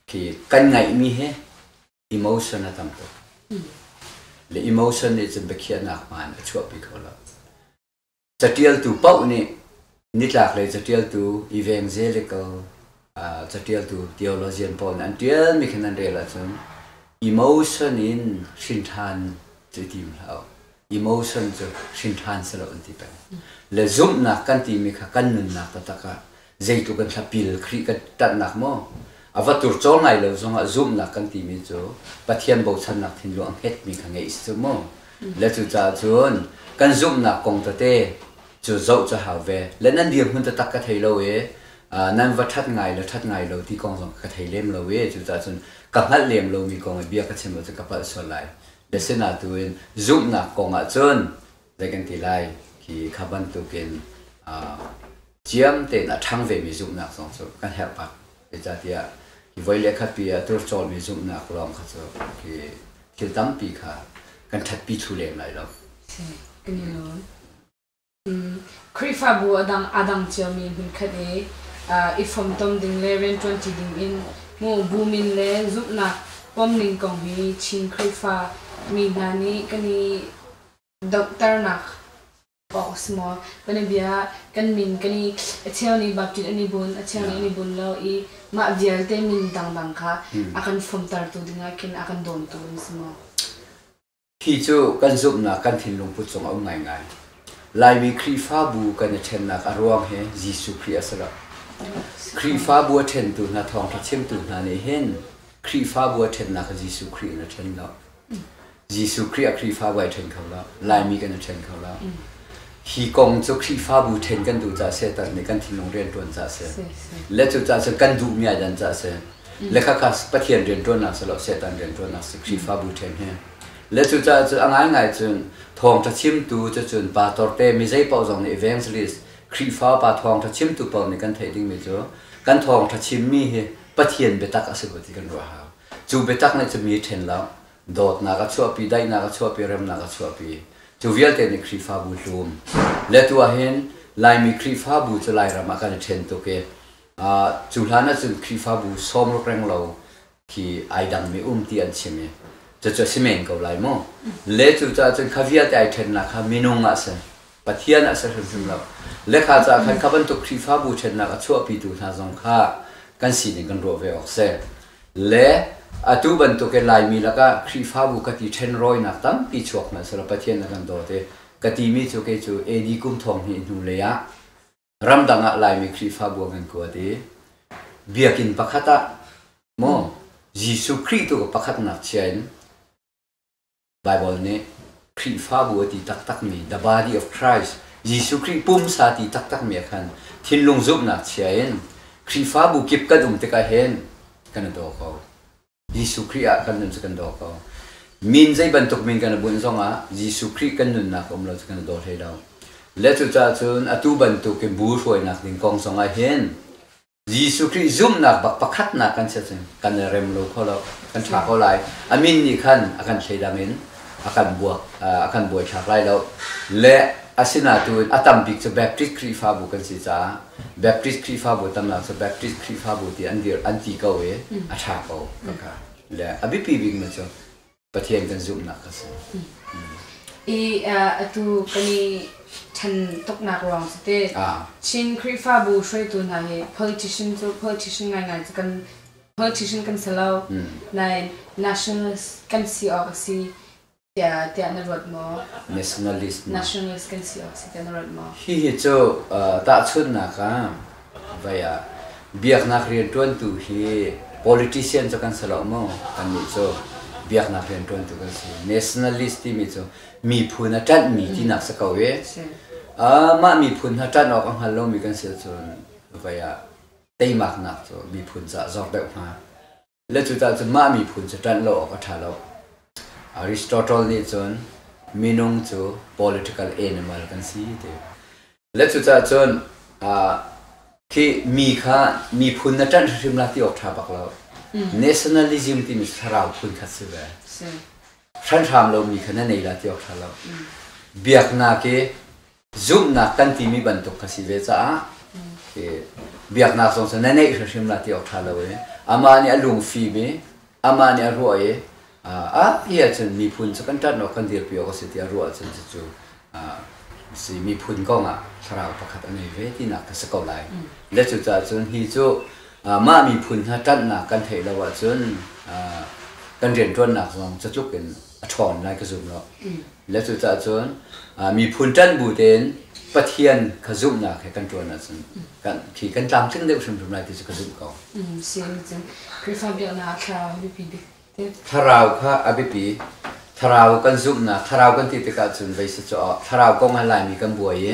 khi kan ngaihmi hi emotion a tam tuk. Le emotion nih cun biakhiahnak hmaan a chuahpi kho lo. Catialtu paoh nih nitlak lei catialtu evangze le ko catialtu theologian pawl nih an tialmi khin an rel ahcun emotion in hrin ṭhan cu tim hlah emotion cu hrinṭhan si lo an ti peng. Le zumhnak kan timi kha kan nunnak taktak ah zeitluk in hlapil Khrih kan ṭanhnak maw, a va turcawl ngai lo zongah zumhnak kan timi cu Pathian bochannak thinlung a hngetmi kha ngeih a si cu mu. Le cucaah cun kan zumhnak kong tete cu zoh cu a hau ve. Le nan dirhmun taktak ka thei lo i nan va ṭhat ngai le ṭhat ngai lo ti kong zong ka thei lem lo i cucaah cun ka hngalh lem lomi kong i bia ka chim lo cu ka palh sual lai. Biasin ah tu in zumhnak kong ahcun zei kan ti lai khi kha bantukin ciam tein a ṭhang vemi zumhnak zong cu kan herh bak. Zeicahtiah hi voi le khatpi ah tur cawlmi zumhnak lawng kha cu hi thil tampi kha kan ṭhatpi thlu lem lai lo. Amen. Khrihfabu a dang ciami hmunkhat i i fomtom ding le rianṭuanṭi ding in mu bu min le zumhnak pom ning kong hi Chin Khrihfa mi hna nih kan i donghternak awk a si maw? Kan i bia, kan min kan i a cheu nih Baptist an i bunh, a cheu nih an i bunh lo i mah vialte min dangdang kha a kan fomtertu ding ah khin a kan dawntu an si maw? Hi cu kan zumhnak kan thinlungput cung a um ngaingai. Laimi Khrihfabu kan i ṭhennak a ruang hi Jesuh Khrih a si lo. Khrihfabu a ṭhentu hna thawngṭha chimtu hna nih hin Khrihfabu a ṭhennak kha Jesuh Khrih in a ṭhen lo. Jesuh Khrih a Khrihfabu ai ṭhen kho lo. Laimi kan i ṭhen kho lo. Hi kong cu Khrihfabu ṭhen kan duh caah a si, Satan nih kan thinlung rianṭuan caah a si. Le cu caah cun kan duhmi ai dan caah a si. le kha kha Pathian rianṭuannak si lo Satan rianṭuannak si Khrihfabu ṭhen hi le cucaah cu a ngaingai cun thawngṭha chimtu cu cun pa torte mi zei paoh zong nih evangelist Khrihfa pa thawngṭha chimtu paoh nih kan theih dingmi cu kan thawngṭha chimmi hi Pathian biatak a si ko ti kan ruah hau cu biatak nih cun mi ṭhen lo dawtnak a chuahpi daihnak a chuahpi remnak a chuahpi cu vialte nih Khrihfabu hlum le tuah hin Laimi Khrihfabu cu Lairam ah kan i ṭhen tuk i Cu hlan ahcun Khrihfabu sawmruk renglo khi ai dangmi um ti an chim i cucu a si men ko lai maw? Le cucaah cun kha vialte ai ṭhennak kha minung ah si, Pathian ah si hrimhrim lo. Le kha caah khan kha bantuk Khrihfabu ṭhennak a chuahpitu hna zong kha kan sining kan ruah ve awk si. Le atu bantukin Laimi lakah Khrihfabu ka ti ṭhenrawinak tampi chuak hmanhsehlaw Pathian na kan dawt i ka timi cu kei cu AD kum thong hnih hnulei ah ramdang ah Laimi Khrihfabu ah kan kuat i Biakinn pakhat ah maw Jesuh Khrih tu ka pakhat ngakchia in Bible nih Khrihfabu a ti taktakmi The Body of Christ Jesuh Khrih pumsa ti taktakmi ah khan thinlung zumhnak chia in Khrihfabu kip kan um tikah hin kan i daw ko. Jesuh Khrih ah kan nun cu kan daw ko. Min zei bantuk min kan i bunh zongah Jesuh Khrih kan nunnak um lo cu kan i daw hlei lo. Le cucaah cun atu bantuk in bu hruainak ding kong zongah hin Jesuh Khrih zumhnak bak pakhatnak kan chiah cun kan i rem lo kho lo, kan ṭha ko lai. A min nih khan a kan thleidang in a kan buak, a kan buaithlak lai lo. Le a sinah tu in a tam bik cu Baptist Khrihfabu kan si caah Baptist Khrihfabu tamnak cu Baptist Khrihfabu ti an dirh an ti ko i a ṭha ko ka ka. Le a biapi bikmi cu Pathian kan zumhnak kha si. I atu kan i ṭhen tuknak ruang cu teh Chin Khrihfabu hruaitu hna hi politician cu politician ngaingai cu kan politician kan si lo, nain nationalist kan si awk a si. Tiah tiah na ruat maw? Nationalist. Nationalist kan si awk si tiah na ruat maw? Hihi cu tahchunhnak ah vai ah biaknak rianṭuantu hi politician cu kan si lo maw? Kannih cu biaknak rianṭuantu kan si. Nationalist timi cu miphun a ṭanhmi tinak si ko i mah miphun hna ṭanh awk a hngal lomi kan si ahcun vai ah teimaknak cu miphun caah zor deuh hnga. Le cucaah cu mah miphun cu ṭanh lo awk a ṭha lo. Aristotle nih cun minung cu political animal kan si ti le cucaah cun khi mi kha miphun na ṭanh hrimhrim la ti awk ṭha bak lo. Nationalism timi cu thlarau phun khat si ve. Hranh hram lomi kha na nei la ti awk ṭha lo. Biaknak i zumhnak kan timi bantuk ka si ve caah biaknak zong cu na neih hrimhrim la ti awk ṭha lo i amah nih a lungfim i amah nih a ruah i a pi ahcun miphun cu kan ṭanhawk kan dirpi awk a si ti a ruah ahcun cucu si miphun kong ah thlarau pakhat a ngei ve tinak ka si ko lai. Le cucaah cun hi cu mah miphun hna ṭanhnak kan theih lo ahcun kan rianṭuannak zong catluk in a ṭhawn lai ka zum lo. Le cucaah cun miphun ṭanh bu tein Pathian kha zumhnak he kan ṭuan ahcun kan khi kan tlamtling deuh hrimhrim lai ti cu ka zumh ko. Sihni cun Khrihfa biaknak a thlarau biapi bik Thlarau kha a biapi. Thlarau kan zumhnak, thlarau kan ti tikah cun voi set cu thlarau kong ah Laimi kan buai i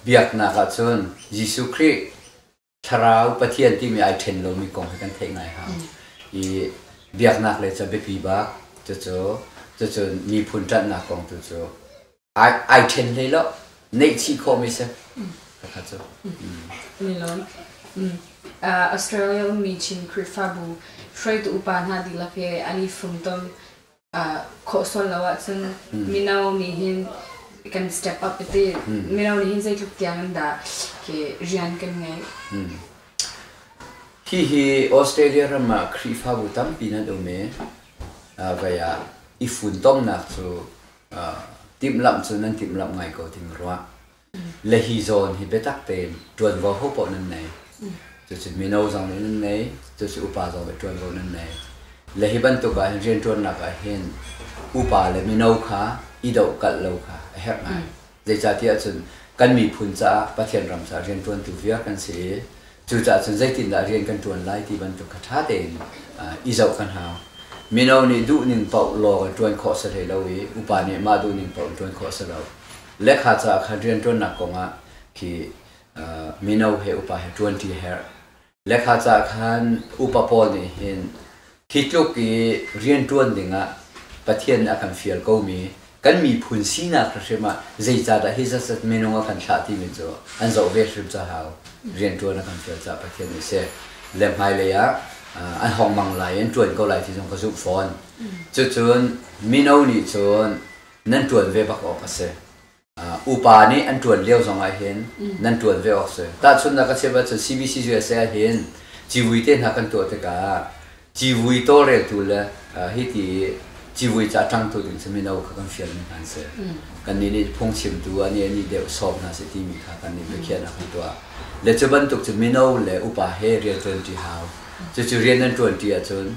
biaknak ah cun Jesuh Khrih, Thlarau Pathian timi ai ṭhen lomi kong hi kan theih ngai hau. I biaknak le cu a biapi bak. Cucu, cucu miphun ṭanhnak kong tu cu ai, ai ṭhen hlei lo. Neihchih khawhmi si. Khakha cu. Nelawm. Australia ummi Chin Khrihfabu hruaitu upa hna dihlak he an i funtom. khawhsual lo ahcun mino nih hin kan step up a ti mino nih hin zeitluk tiang in dah ke rian kan ngei hihi australia ram ah khrihfabu tampi nan um i vai ah i funtomnak cu timhlamh cun nan timhlamh ngai ko ding rua Le hi zawn hi biatak tein ṭuanvo ho paoh nan nei. Cucu mino zong nih nan nei, cucu upa zong nih ṭuanvo nan nei. Le hi bantuk ah hin rianṭuannak ah hin upa le mino kha i dohkalh lo kha a herh ngai. Zeicahtiah cun kan miphun caah Pathian ram caah rianṭuantu viar kan si i cucaah cun zeitindah rian kan ṭuan lai ti bantuk kha ṭha tein uh, i zoh kan hau. Mino nih duhning paoh lawng in ṭuan khawh a si hlei lo i upa nih mah duhning paoh in ṭuan khawh a si lo. Lehkha caah kha rianṭuannak kongah khi mino he upa he ṭuanṭi a herh. Lehkha caah khan upa pawl nih hin hi tluk i rianṭuan dingah Pathian nih a kan fial komi kan miphun sinak hrimhrim ah zeicahdah hi zatzat minung a kan thlah timi cu an zoh ve hrim cahau. Rianṭuan a kan fial caah Pathian nih seh le hmailei ah an hongmang lai i an ṭuan ko lai ti zong ka zumh fawn. Cucun mino nih cun nan ṭuan ve bak awk a si. Upa nih an ṭuan lio zong ahhin nan ṭuan ve awk a si. Tahchunhnak ka chiah ahcun CBC usa ahhin civui te hna kan tuah tikah civui tawlreltu le hiti i civui ca ṭangtu ding cu mino kha kan fialmi hna an si. Kannih nih phungchimtu ah nih nih deuh sawm hna sih timi kha kannih biakhiahnak hi tuah. Le cu bantuk cu mino le upa he rian ṭuanṭi hau. Cucu rian nan ṭuanṭi ahcun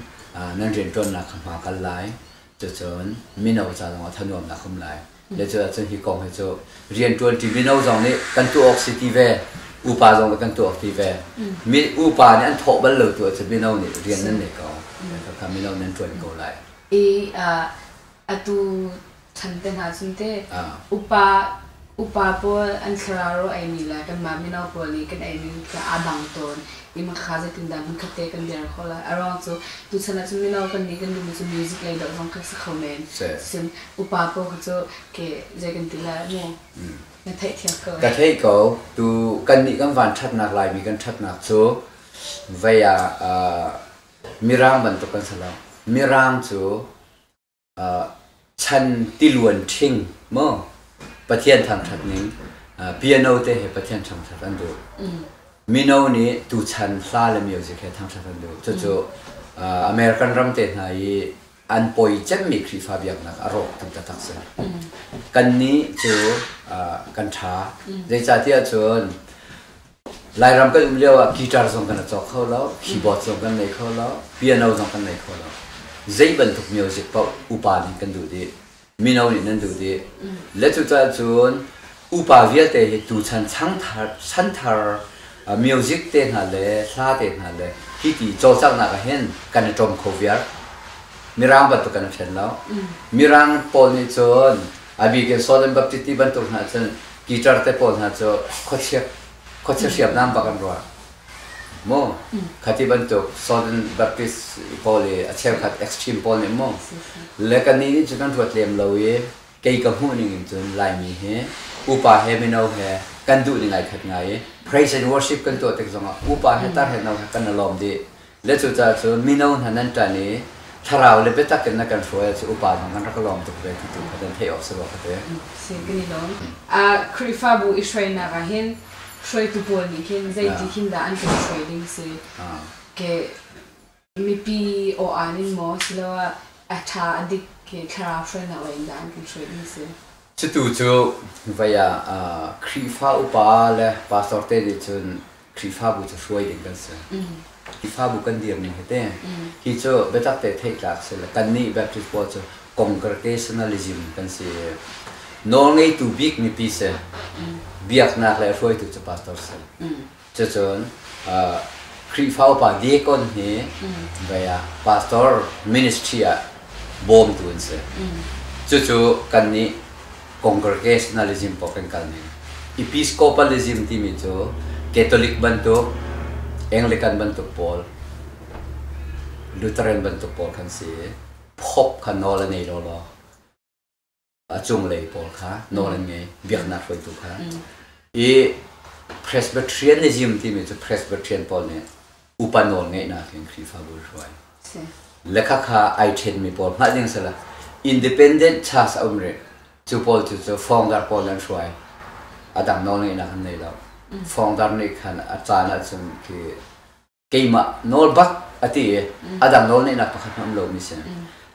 nan rianṭuannak kha hma kal lai. Cucun mino ca zongah thanuamnak um lai. Le cu ahcun hi kong hi cu rianṭuanṭi mino zong nih kan tuah awk si ti ve, upa zong nih kan tuah awk ti ve. Mi, upa nih an thawh bal lo tu ahcun mino nih rian nan ngei ko. Khakha mino nih an ṭuan ko lai. I atu chan te hna cun teh upa Upa pawl an thlarau ro eimi le kanmah mino pawl nih kan eimi tiah aa dang tawn i hmangkha zeitindah hmunkhatte kan der khawh lai? A ruang cu tuchan ahcun mino kan nih kan duhmi cu music lei dawh zong khi a si kho men. Sihcun upa pawl khi cu ke zei kan ti lai mu? Na theihthiam ko. Ka theih ko. Tu kan nih kan van ṭhatnak Laimi kan ṭhatnak cu vei ah mirang bantuk kan si lo. Mirang cu. chan tiluan ṭhing maw Pathian thangṭhat ning piano te he Pathian thangṭhat an duh mino nih tuchan hla le music he thangṭhat an duh cucu American ram te hna i an poi cemmi Khrihfa biaknak a rawk tu taktak si kan nih cu kan ṭha zeicahtiah cun Lairam kan um lio ah guitar zong kan caw kho lo, keyboard zong kan nei kho lo, piano zong kan nei kho lo. Zei bantuk music paoh upa nih kan duh dih, mino nih nan duh dih. Le cucaah cun upa vialte hi tuchan changthar, chanthar uh, music te hna le hla te hna le hiti cawlcanghnak ah hin kan i ṭom kho viar. Mirang bantuk kan i hren lo. Mirang pawl nih cun A bik in Saul an Baptist ti bantuk hna cun Peter te pawl hna cu khuachia khuachia hriamnam bak an ruah. Mu, khati bantuk Southern Baptist pawl i a cheukhat extreme pawl nih mu le ka nih nih cun kan ruat lem lo i kei ka hmuh ning in cun Laimi hi upa he mino he kan duh ning ai khat ngai i praise and worship kan tuah tik zong ah upa he tar he no he kan i lawm dih Le cucaah cu mino hna nan ṭan i thlarau le biatak in na kan hruai ah cu upa zong kan rak ka lawm tuk ve ti tu kha nan theih awk si rua ka ti. Si kan i lawm. Khrihfabu i hruainak ah hin hruaitu pawl nih khin zeiti hin dah an kan hruai ding si? Ke mipi aw-aan in maw siloah a ṭha a dik i thlarau hruainak lei in dah an kan hruai ding si? Cutu cu vei ah Khrihfa upa le pastor te nih cun Khrihfabu cu hruai ding kan si. Khrihfabu kan dirning hiti, hi cu biatak te theih tlak si le kannih Baptist pawl cu congregationalism kan si i nawlngeitu bik mipi si, biaknak le hruaitu cu pastor si. Cucun Khrihfa upa deacon hi bei ah pastor ministry ah bawmtu an si. Cucu kannih congregationalism paoh kan kalning. Episcopalism timi cu Catholic bantuk, Anglican bantuk pawl, Lutheran bantuk pawl kan si i, Pope kha nawl a ngei lawlaw. a cunglei pawl kha nawl an ngei biaknak hruaitu kha i Presbyterianism timi cu Presbyterian pawl nih upa nawl ngeihnak in Khrihfabu hruai lekha kha ai ṭhenmi pawl hngalh ding si lo independent church a um rih cu pawl cu cu fawngdar pawl an hruai a dang nawl ngeihnak an nei lo fawngdar nih khan a caan ahcun khi keimah nawl bak a ti i a dang nawlngeihnak pakhat hmanh um lomi si.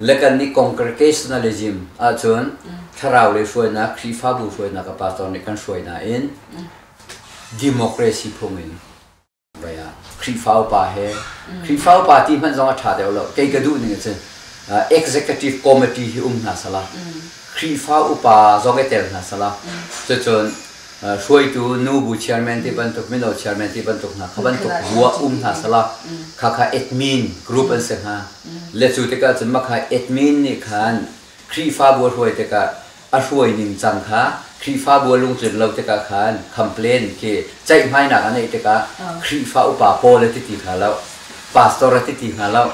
Le kan nih congregationalism ahcun thlarau le hruainak, Khrihfabu hruainak a pastor nih kan hruai nain democracy phung in vai ah Khrihfa upa he Khrihfa upa ti hmanh zong a ṭha deuh lo kei ka duh ning a cun executive committee hi um hna sala Khrihfa upa zong i tel hna sala cucun hruaitu nu bu chairman ti bantuk mino chairman ti bantuk hna kha bantuk hua um hna sala kha kha admin group an se hnga le cu tikah cun makha admin nih khan Khrihfabu a hruai tikah a hruai ning cang kha Khrihfabu a lungtlin lo tikah khan complain ki ceihmainak a neih tikah Khrihfa upa pawl a ti ti hna lo pastor a ti ti hna lo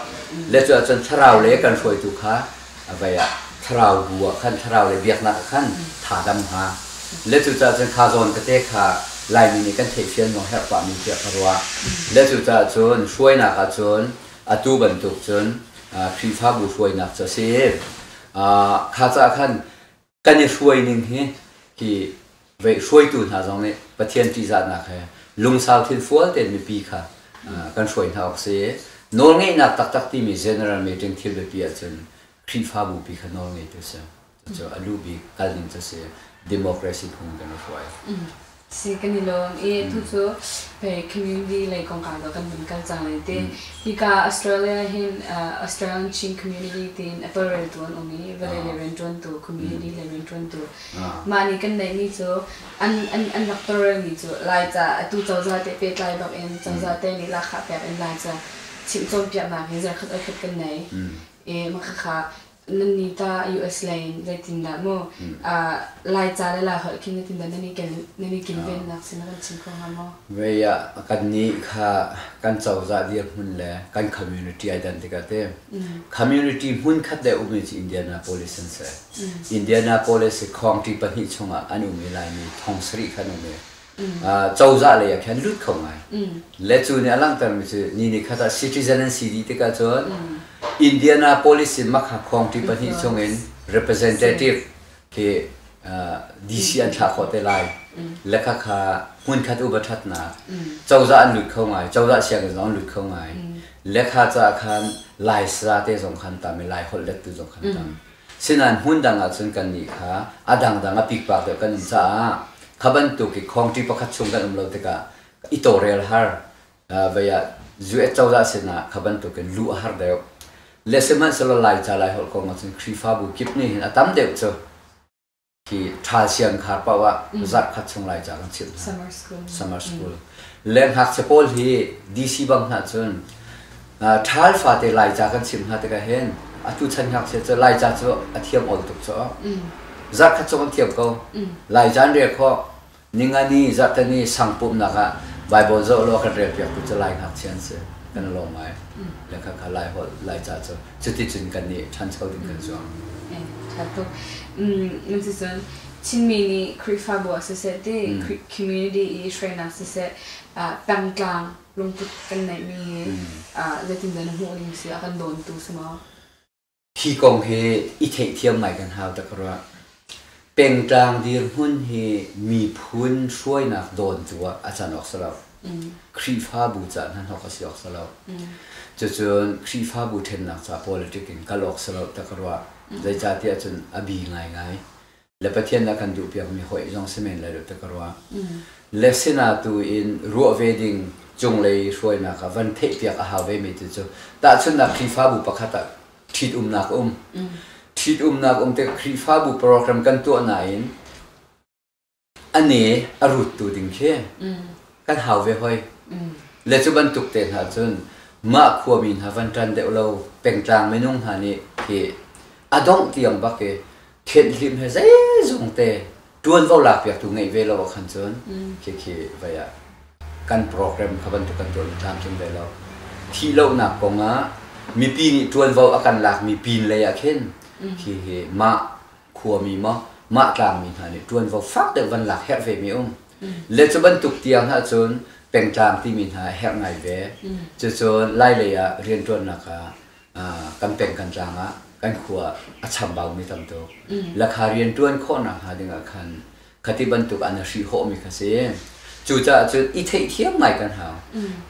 le cu ahcun thlarau le kan hruaitu kha a bei ah thlarau bu ah khan thlarau le biaknak ah khan tha dam hnga. Le cucaah cun kha zawn kate kha Laimi nih kan theihfian maw herh pahmi tiah ka ruah. Le cucaah cun hruainak ah cun atu bantuk cun Khrihfabu hruainak cu a si i kha caah khan kan i hruai ning hi hi vei hruaitu hna zong nih Pathian ṭihzahnak he lungsau thil fual tein mipi kha kan hruai hna awk si. Nawlngeihnak taktak timi general meeting thil biapi ahcun Khrihfabu pi kha nawlngeitu a si. Cucu a lu bik kalning cu a si. Democracy phung in kan i hruai. si kan i lawm i tucu community lei kongkau do kan hun kal cang lai ti hika Australia hin Australian Chin community tiin apple rel tu an um i vale le riantuan tu community le riantuan tu mah nih kan neih mi cu an an rak tawrel mi cu Laica atu cozah te pehtlai bak in cozah te nih lahkhah pek in Laica chim cawnpiaknak hi zarkhat oi khat kan nei i makhakha Nannih ta US lei in zeitindah maw Laica le Laiholh khi zeitindah nan i nan i kilvennak sin a kan chim kho hnga maw? Vei ah kannih kha kan cozah dirhmun le kan community ai dan tikah ti community hmunkhat le ummi cu Indianapolis an si. Indianapolis i khawngṭi pahnih chungah an um i Laimi thong sarih kha an um i cozah lei ah khan lut kho ngai le cu nih a langhtermi cu ni ni khat ah citizen an si dih tikah cun Indianapolis in makha khuangṭi pahnih chungin representative hi DC an thlah khawh te lai le khakha hmunkhat upa ṭhatnak cozah an lut kho ngai cozah sianginn zong an lut kho ngai le kha caah khan Lai sara te zong khan tam i Lai holh lettu zong khan tam Sinain hmundang ahcun kannih kha a dangdang a pikpak deuh kan um caah kha bantuk i khawngṭi pakhat chung kan um lo tikah i tawrel har vei ah US cozah sinah kha bantukin luh a har deuh. Le sihmanhsehlaw Laica Laiholh kong ahcun Khrihfabu kip nih hin a tam deuh cu Hi ṭhalsian kha paoh ah zarhkhat chung lai ca kan chimh hna. Summer school. Le ngakchia pawl hi DC bang hna cun ṭhal fate laica kan chimh hna tikah hin atu chan ngakchia cu laica cu a thiam awl tuk cu zarhkhat chung an thiam ko. Laica an rel khawh. Ningani, Zarhteni sang pumhnak ah Baibal zoh law kan relpiaktu cu Lai ngakchia an si. Kan lawm ngai. Lekhakha Laiholh, Laica cu cuticun kan i ṭhancho ding kan zuam. Ṭha tuk. Cucun Chinmi nih Khrihfabu ah siseh ti community i hruainak siseh pengtlang lungput kan neihmi hi zeitindah na hmuh ning si a kan dawntu si maw? Hi kong hi i theihthiam ngai kan hau ta ka ruah. Pengtlang dirhmun hi miphun hruainak dawn tu ah a can awk si lo. Khrihfabu ca hnan awk a si awk si lo. Cucun Khrihfabu ṭhennak ca politic in kal awk si lo ta ka ruah. Zeicahtiah cun a bi ngaingai. le Pathian nih a kan duhpiakmi hawi zong si men lai lo ti ka ruah. Le sinah tu in ruah ve ding cunglei hruainak ah van theihpiak a hau vemi tu cu tahchunhnak Khrihfabu pakhat ah ṭhitumnak a um. Ṭhitumnak um tikah Khrihfabu program kan tuah nain a ne a ruttu ding khi kan hau ve hoi. Le cu bantuk te hna cun mah khuami hna van ṭan deuh lo pengtlang minung hna nih hi a dongh tiang bak i thianhlim he zeizong te ṭuanvo lakpiaktu ngeih ve lo ah khan cun mm. khi vai ah kan program kha bantuk kan tuah tlamtling ve lo thih lonak kong ah mipi nih ṭuanvo a kan lakmi pin lei ah khin mm. hi hi mah khuami maw mah tlangmi hna nih ṭuanvo fak deuh van lak herh ve mi um le cu bantuk tiang hna cun pengtlang timi hna herh ngai ve mm. cucun lai lei ah rianṭuannak ah kan peng kan tlang ah kan khua a chambaumi tam tuk lakha rianṭuan khawh nakhnga dingah khan khati bantuk an i hrihhawhmi kha si cucaah cun i theihthiam ngai kan hau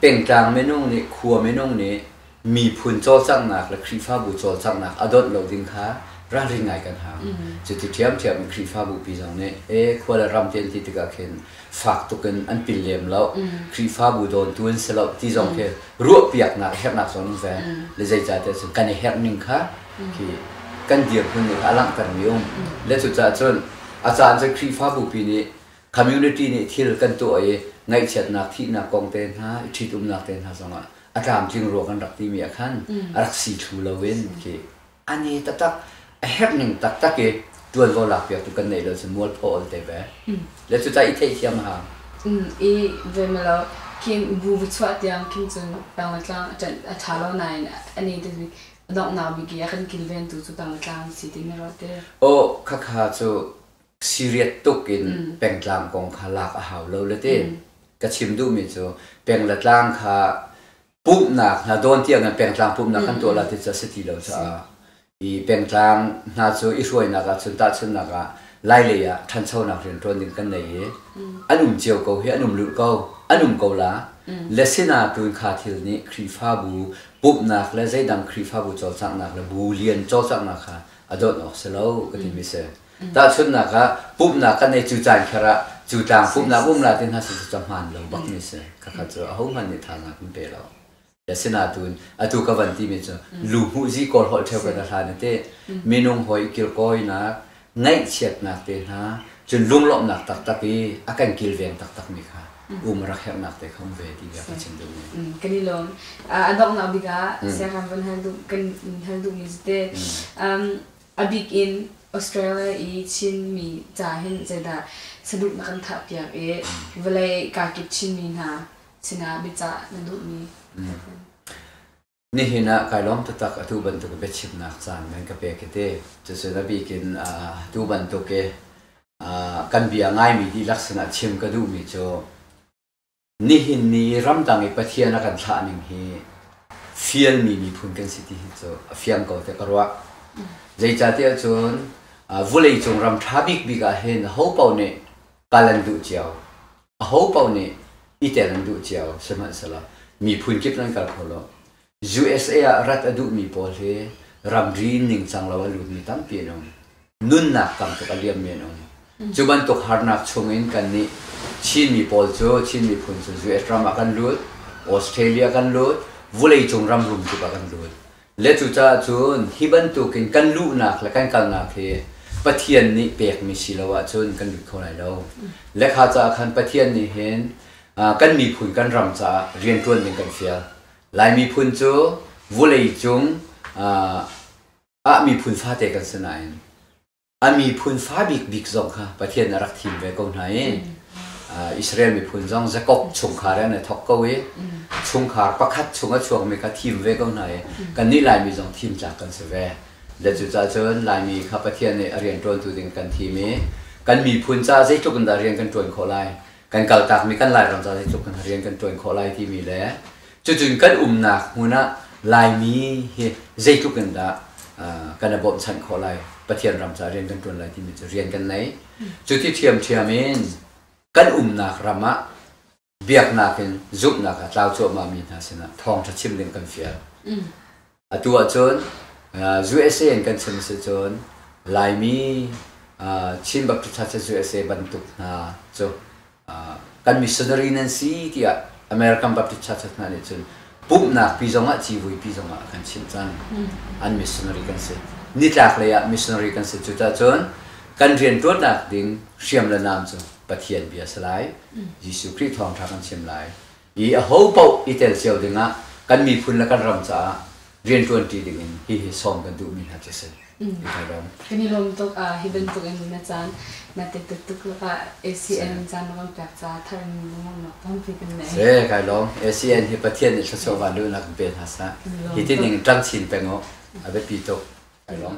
pengtlang minung nih khua minung nih miphun cawlcanghnak le khrihfabu cawlcanghnak a dawt lo ding kha ralring ngai kan hau cuti ṭhiamṭhiam khrihfabu pi zong nih e khua le ram ti an ti tikah khin fak tuk in an pil lem lo. Khrihfabu dawntu an si lo ti zong khi ruahpiaknak herhnak zong an vel. Le zeicahtiah cun kan i herh ning kha khi kan dirhmun nih kha a langhtermi a um. Le cucaah cun a caan cu Khrihfabupi nih community nih thil kan tuah i ngaihchiatnak, thihnak kong te hna, i ṭhitumnak te hna zongah a tlamtling rua kan rak timi ah khan a rak si thlu lo in khi An i taktak a herh ning taktak i ṭuanvo lakpiaktu kan neih lo cu mualpho an te ve. Le cu ta i theihthiam a hau. I veimelo Kim bu chuah tiang Kim cun Tanglatlang a ṭanh a ṭha lo nain an i donghnak bik i a kan kilvengtu cu Tanglatlang a si timi rawhte. Aw khakha cu siriat tuk in pengtlang kong kha lak a hau lo le ti ka chim duhmi cu penglatlang kha pumhnak hna dawn tiang in pengtlang pumhnak kan tuah lai ti cu a si ti lo caah i pengtlang hna cu i hruainak ah cun tahchunhnak ah lailei ah ṭhanchonak rianṭuan ding kan nei i an um cio ko hi an um lulh ko an um ko la le sinatu in kha thil nih khrihfabu pumhnak le zeidang khrihfabu cawlcanghnak le bu lian cawlcanghnak kha a dawt awk si lo ka timi si Tahchunhnak ah, pumhnak kan ei cu caan kher ah cu tlang pumhnak umla te hna cu cahmaan lo bak ni si. Khakha cu ahohmanh nih thazaang kan pe lo. Asinain atu ka van timi cu lu hmuh zi kawl holh theo kan hlan i te minung hawi kirkawinak ngaihchiatnak te hna cun lunglawmhnak taktak i a kan kilveng taktak mi kha um rak herhnak te kha um ve ti bia ka chim duh ne. Kan i lawm. A donghnak bik ah siahram van hal duh kan hal duhmi cu te A bik in Australia i Chinmi ca hin zeidah saduh na kan thahpiak i vawlei kaa kip Chinmi hna sinah biacah na duhmi? Nihin ah kai lawm taktak atu bantuk biachimnak caan men ka pek hi ti. Cucu a bik in atu bantuk i kan bia ngaimi dihlak sinah chim ka duhmi cu Nihin ni ramdang i Pathian a kan thlah ning hi fialmi miphun kan si ti hi cu a fiang ko tiah ka ruah. Zeicatiah cun vuleicung ram ṭha bikbik ah hin hopo nih kal an duh cio. A hopo nih i tel an duh cio, sihmanhsehlaw miphun kip nan kal kho lo. USA ah rat a duhmi pawl hi ramri ningcang lo a lutmi tampi an um. Nunnak tam tuk a liammi an um. Cu bantuk harnak chungin kannih Chinmi pawl cu Chin miphun cu US ram ah kan lut, Australia kan lut, vuleicung ram rum tuk ah kan lut. Le cucaah cun hi bantukin kan luhnak le kan kalnak hi Pathian nih pekmi si lo ahcun kan lut kho lai lo. Le kha caah khan Pathian nih hin ah, kan miphun kan ram caah rianṭuan ding kan fial. Lai miphun cu vulei cung ah miphun fate kan si nain a miphun fa bikbik zong kha Pathian a rak thim ve ko hna i Israel miphun zong Jakob chungkhar an i thawk ko i chungkhar pakhat chung a chuakmi kha thim ve ko hna i kannih Laimi zong thim tlak kan si ve. Le cucaah cun Laimi kha Pathian nih a rianṭuantu ding kan thim i kan miphun caah zeitluk in dah rian kan ṭuan khawh lai kan kaltakmi kan Lairam ca tluk in rian kan ṭuan khawh lai timi le cucun kan umnak hmun ah Laimi hi zeitluk in dah kan i bawmhchanh khawh lai Pathian ram ca rian kan ṭuan lai timi cu rian kan nei cu ti thiamthiam in kan umnak ram ah biaknak in zumhnak a tlau cuahmahmi hna sinah thawngṭha chim ding kan fial. Mm. Atu ahcun USA in kan chim si cun Laimi Chin Baptist Church USA bantuk hna cu kan missionary nan si tiah American Baptist Churches hna nih cun pumhnak pi zongah civui pi zongah kan chimh cang an missionary kan si nitlak lei ah missionary kan si cucah cun kan rianṭuannak ding hriam le nam cu Pathian bia a si lai Jesuh Khrih thawngṭha kan chim lai i aho paoh i tel cio dingah kan miphun le kan ram caah rianṭuanṭi dingin hihi sawm kan duhmi hna khi a si. Kan i lawm tuk hi bantukin na caan na te tuk tuk lakah ACN caan lawng pek caah thar in lungruhnak tampi kan nei. Se kai lawm ACN hi Pathian nih thluachuah van luhnak kan pe hna sa. Hi ti ning ṭangchin peng u a biapi tuk. Kai lawm.